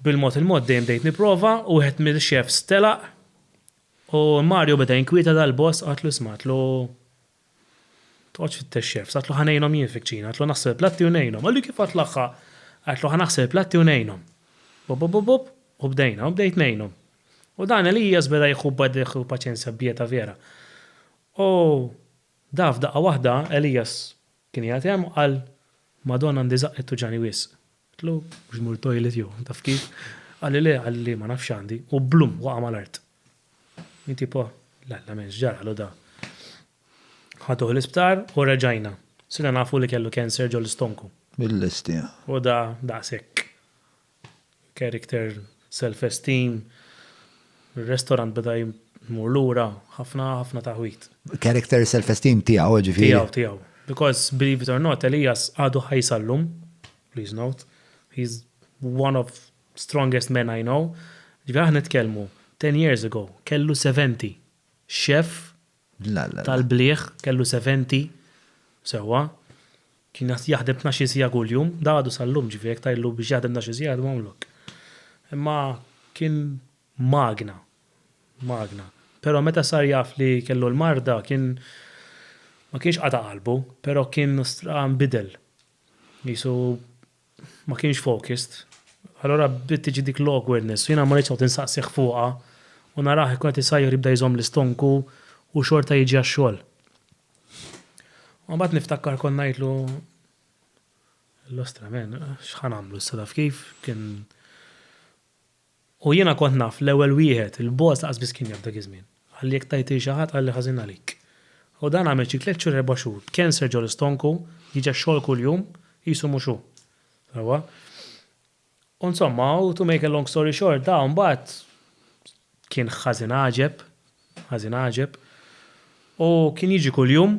Bil-mod il-mod dejjem bdejt nipprova u wieħed mill-chefs telaq u Mario beda jinkwieta dal-boss għadtlu isma' għadtlu toqgħodx tfittex chefs għadtlu ħa ngħinhom jien fiċ-ċina għadtlu ħa naħsel il-platti u ngħinhom. Qalli kif għadtlu aħħa? Għadtlu ħa naħsel il-platti u ngħinhom. Bobobobop u bdejna u bdejt ngħinhom. U dan Elias beda jieħu b'għaddejh paċenzja b'pieta vera. U da f'daqqa waħda Elias Kien qiegħed hemm u qal, Madonna għandi żaqqet tuġani wisq. Għedtlu, Mhux tmur it-toilet jew taf kif? Qalli, Le, qalli, Le ma nafx x'għandi, u blum waqa' mal-art. Jien tipo, La, la m'hemmx, ġaralu da. Ħaduh l-isptar u reġajna. Sirna nafu li kellu cancer ġol-stonku. Bil-lesti, ha? U da daqshekk. character, self esteem, ir-restorant beda jmur lura, ħafna ħafna taħwid. Character, self esteem tiegħu ġifieri? Tiegħu, tiegħu. Because believe it or not, Elias għadu ħaj sal-lum, please note, he is one of strongest men I know, ġifieri aħna nitkellmu ten years ago kellu 70, chef tal-bliegħ, kellu seventi, sewwa, kien jaħdem tnax-il siegħa kuljum, dan għadu sal-lum, ġifieri jekk tgħidlu biex jaħdem tnax-il siegħa jgħidu mgħamlok. Imma kien magna, magna. Però meta sar jaf li kellu l-marda kien ma kienx qata' qalbu, però kien stra nbidel. Qisu ma kienx focused. Allura bdiet tiġi dik l-awkwardness u jiena ma ridtx noqgħod insaqsih fuqha u narah ikun qed isajjar jibda jżomm l-istonku u xorta jiġi għax-xogħol. U mbagħad niftakar kont ngħidlu, L-ostra man, x'ħa nagħmlu issa taf kif, kien. U jiena kont naf l-ewwel wieħed, il-boss lanqas biss kien jaf dak iż-żmien. Qalli jekk tgħid lil xi ħadd qalli ħażin għalik. U dan għamel xi tliet xhur erba' xhur, cancer ġo l-istonku, jiġi għax-xogħol kuljum, qisu mhux hu. Sewwa? U nsomma, u to make a long story short, da mbagħad kien ħażin għaġeb, ħażin għaġeb, u kien jiġi kuljum,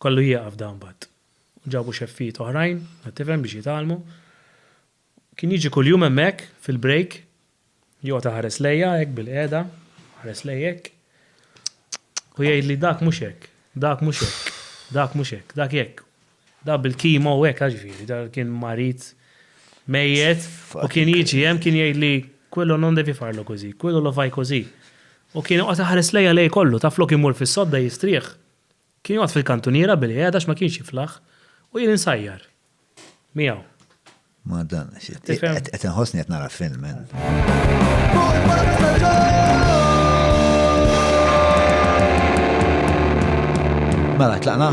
kellu jieqaf da mbagħad. Ġabu xeffijiet oħrajn, qed tifhem, biex jitgħallmu. Kien jiġi kuljum hemmhekk, fil-break, joqgħod iħares lejja hekk bilqiegħda, iħares lejja hekk, u jgħidli dak mhux hekk, dak mhux hekk, dak mhux hekk, dak hekk, dak bil-kimo hekk, għax jiġifieri dan kien marid mejjet, u kien jiġi hemm kien jgħidli quello non devi farlo così, quello lo fai così. U kien joqgħod iħares lejja lejl kollu, taf flok imur fis-sodda jistrieħ, Kien joqgħod fil-kantuniera bilqiegħda għax ma kienx jiflaħ u jien insajjar miegħu. Ma dan, qed inħossni qed nara film Mela, tlaqna?